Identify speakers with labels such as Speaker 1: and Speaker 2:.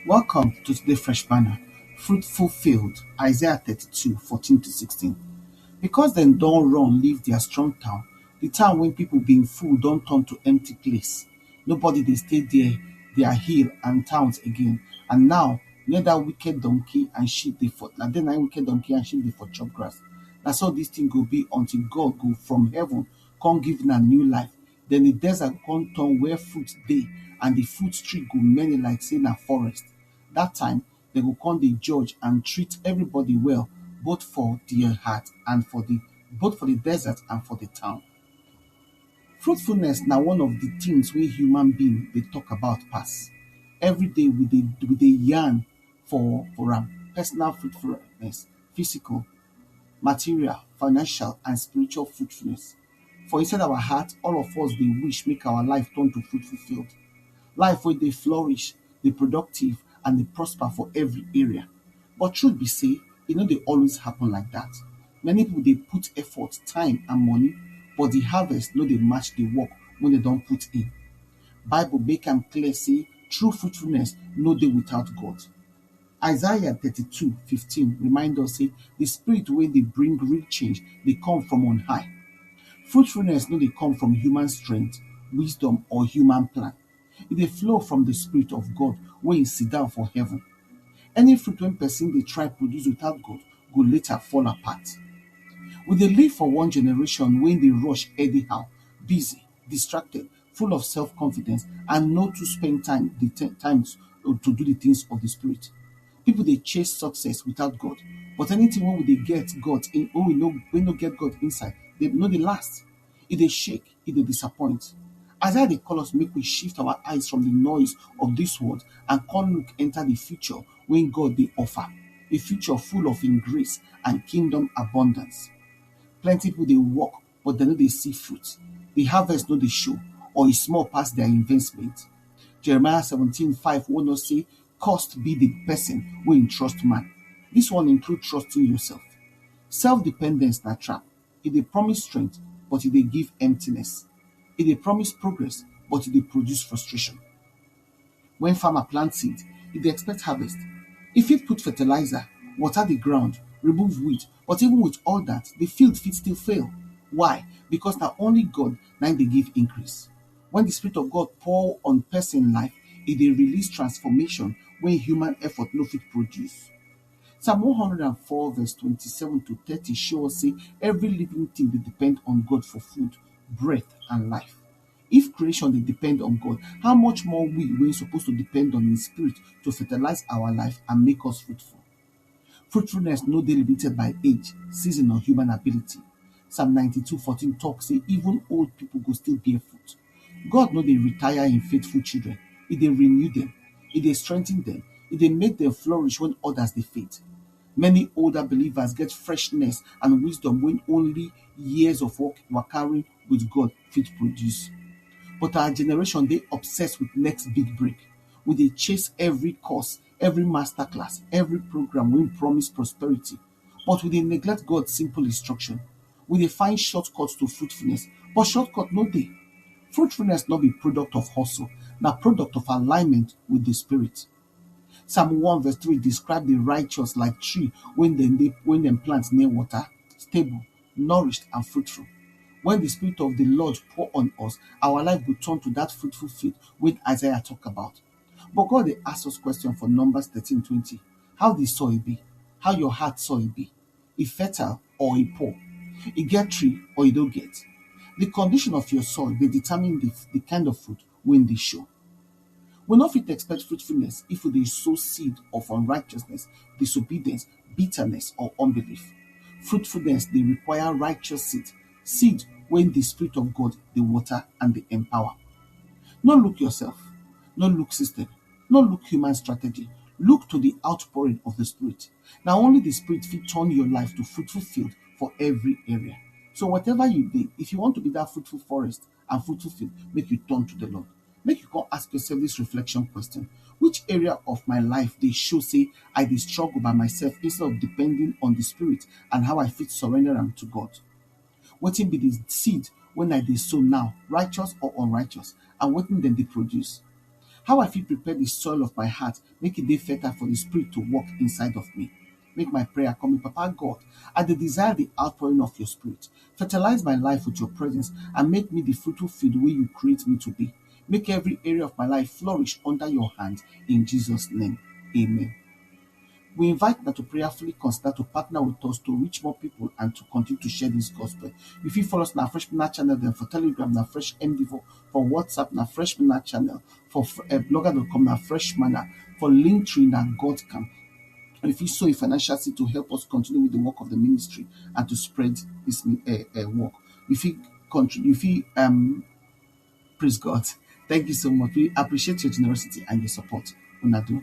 Speaker 1: Welcome to today fresh manna, fruitful field, Isaiah 32, 14 to 16. Because dem don run leave their strong town, the town wey people been full don turn to empty place. Nobody dey stay there, their hill and towns again. And now, near that wicked donkey and sheep dey for, na there na im wicked donkey and sheep dey for chop grass. Na so this thing go be until God go from heaven come give una new life. Den di desert go kon turn where fruit dey and di fruit tree go many like sey na forest. Dat time, dem go kon dey judge and treat everybody well, both for di heart and for di, both for di desert and for di town. Fruitfulness na one of di tins wey human being dey tok about pass. Everyday we dey we dey yarn for for am, personal fruitfulness, physical, material, financial and spiritual fruitfulness. For inside our heart, all of us dey wish make our life turn to fruitful field, life wey dey flourish, dey productive and dey prosper for every area but truth be sey e no dey always happen like dat. Many pipu dey put effort, time and money but di harvest no dey match di work wey dem don put in. Bible make am clear sey true fruitfulness no dey without God. Isaiah thirty two fifteen remind us sey di spirit wey dey bring real change dey come from on high. Fruitfulness no dey come from human strength, wisdom or human plan, e dey flow from di spirit of God wey e sit down for heaven. Any fruit wey pesin dey try produce without God go later fall apart. We dey live for one generation wey dey rush anyhow, busy, distracted full of self confidence and no too spend time dey ten time to do the things of the spirit people dey chase success without God but anything wey we dey get God in wey we no wey no get God inside dey no dey last e dey shake e dey disappoint Isaiah dey call us make we shift our eyes from the noise of this world and come look enter the future wey God dey offer a future full of him grace and kingdom abundance plenty people dey work but dem no dey see fruit, di harvest no dey show or e small pass dia investment. Jeremiah seventeen five warn us sey cursed be di pesin wey e trust man, dis one include trusting yourself. Self dependence na trap, e dey promise strength but e dey give emptiness, e dey promise progress but e dey produce frustration. Wen farmer plant seed, e dey expect harvest, e fit put fertilizer, water di ground, remove weed but even with all dat di field fit still fail why becos na only God na im dey give increase. Wen di spirit of God pour on pesin life, e dey release transformation wey human effort no fit produce. Psalm one hundred and four verse twenty seven to thirty show us sey every living tin dey depend on God for food, breath and life. If creation dey depend on God, how much more we wey suppose to depend on im spirit to fertilize our life and make us fruitful. Fruitfulness no dey limited by age, season or human ability. Psalm ninety two fourteen talk sey even old pipu go still bear fruit. God no dey retire im faithful children, e dey renew dem, e dey strengthen dem, e dey make dem flourish wen others dey fade. Many older believers get freshness and wisdom wey only years of work, wakaring with God fit produce. But our generation dey obsessed with next big break. We dey chase every course, every master class, every program wey promise prosperity, but we dey neglect God simple instruction. We dey find shortcut to fruitfulness, but shortcut no dey. Fruitfulness no be product of hustle, na product of alignment with the spirit. Psalm one verse three describe the righteous like tree when dem dey when dem plant near water, stable, nourished and fruitful. Wen di spirit of di lord pour on us, our life go turn to dat fruitful field wey Isaiah tok about. But God dey ask us question for Numbers thirteen twenty, How di soil be? How your heart soil be? E fertile or e poor? E get tree or e no get? Di condition of your soil dey determine di di kind of fruit wey im dey show. We no fit expect fruitfulness if we dey sow seed of unrighteousness, disobedience, bitterness or unbelief. Fruitfulness dey require righteous seed, seed wey di spirit of God dey water and dey empower. No look yourself, no look system, no look human strategy, look to di outpouring of di spirit. Na only di spirit fit turn your life to fruitful field for every area. So whatever you dey, if you want to be dat fruitful forest, and fruitful faith make you turn to the Lord. Make you come ask yourself this reflection question. Which area of my life they show say I dey struggle by myself instead of depending on the spirit and how I fit surrender them to God? What it be the seed when I dey sow now, righteous or unrighteous, and what then they produce? How I fit prepare the soil of my heart, make it be fertile for the spirit to work inside of me? Make my prayer come in, Papa God. I dey desire the outpouring of your spirit. Fertilize my life with your presence and make me the fruitful field wey you create me to be. Make every area of my life flourish under your hand. In Jesus' name, amen. We invite now to prayerfully consider to partner with us to reach more people and to continue to share this gospel. You fit follow us na Fresh Manna channel dem for Telegram na Fresh MD for for whatsapp na fresh manna channel for blogger dot com na fresh manna for link tree na God camp and if you sow a financial seed to help us continue with the work of the ministry and to spread this uh, uh, work you fit contribute you fit um praise God thank you so much we appreciate your generosity and your support una do.